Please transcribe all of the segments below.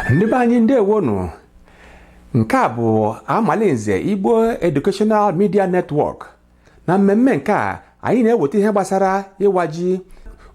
ndị be anyị ndewonu nke a bụ amalinze igbo educational media network na mmemme nke a anyị na-eweta ihe gbasara ịwa ji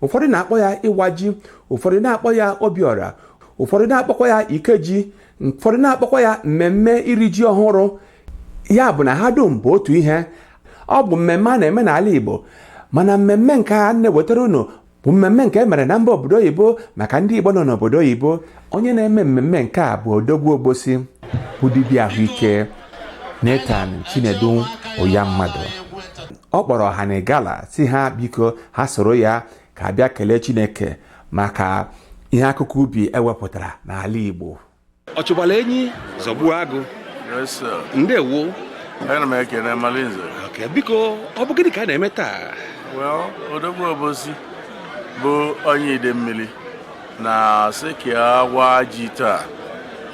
ụfọdụ na-akpọ ya ịwa ji ụfọdụ na-akpọ ya obiọra ụfọdụ na-akpọkwa ya ikeji ụfọdụ na-akpọkwa ya mmemme iri ji ọhụrụ ya bụ na ha dum bụ otu ihe ọ bụ mmemme a na-eme n'ala Igbo mana mmemme nke a na-ewetara unu bụ mmemme nke e mere na mba obodo oyibo maka ndị Igbo nọ n'obodo oyibo onye na-eme mmemme nke a bụ odogwu Obosi bụ dibịa ahụike Nathan Chinedu Uyamadu ọ kpọrọ ọha na gala si ha biko ha soro ya ka a bịa kelee Chineke maka ihe akụkọ ubi ewepụtara n'ala Igbo ọ chụbala enyi zọgbuo agụ yes sir ndewo ana m ekene amalinze biko ọ bụ gịnị ka a na-eme taa well odogwu obosi bụ onye idemili na sị ka ya waa ji taa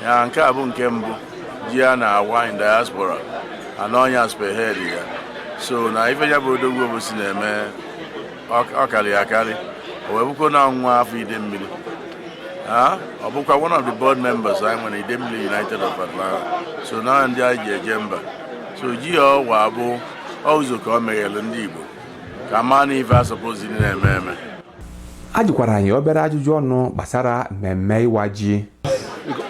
ya nke a bụ nke mbụ ji a na-awa in diaspora and ọ nya spearhead ya so na ife ya bụ odogwu obosi na-eme ọ karịa akarị o wee bụkwa na nwa afọ idemili ọ bụkwa one of the board members anyị nwere idemili united of atlanta so na ndị anyị ji eje mba so ji a ọ wa bụ ụzọ ka o meghere ndị igbo ka a maa na ife a suppose na-eme eme a jụkwara anyị obere ajụjụ ọnụ gbasara mmemme ịwa ji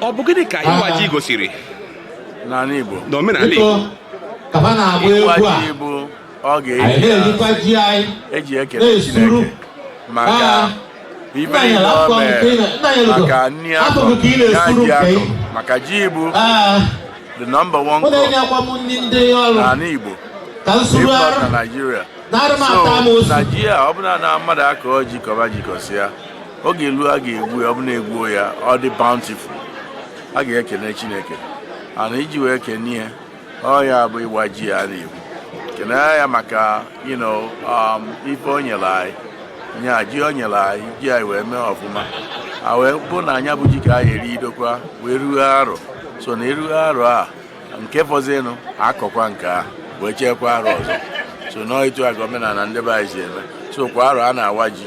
ọ bụ gịnị ka ịwa ji gosiri n'ala igbo n'omenala igbo ịwa ji bụ ọ e ji ekele Chineke maka ife niile o mere maka nri a kọ ya ji a kọ maka ji bụ the number one crop n'ala Igbo if not na Nigeria so na ji a ọ bụlụ na mmadụ akọọ ji kọba ji kọsịa oge eluo a ga-egwu ya ọ bụ na e gwuo ya ọ dị bountiful a ga-ekene Chineke and iji wee kene ya ọ ya bụ ịwa ji a na-ekwu kenee ya maka you know, um, ife o nyere anyị nya ji o nyere anyị ji anyị wee mee ọfụma a wee bụ na nya bụ ji ka a ya-eridokwa wee ruo arọ so na eruo arọ a nke fọzinụ akọkwa nke a wee cheekwa arọ ọzọ so na ọ etu a ka omenala ndị be anyị si eme so kwa arọ a na-awa ji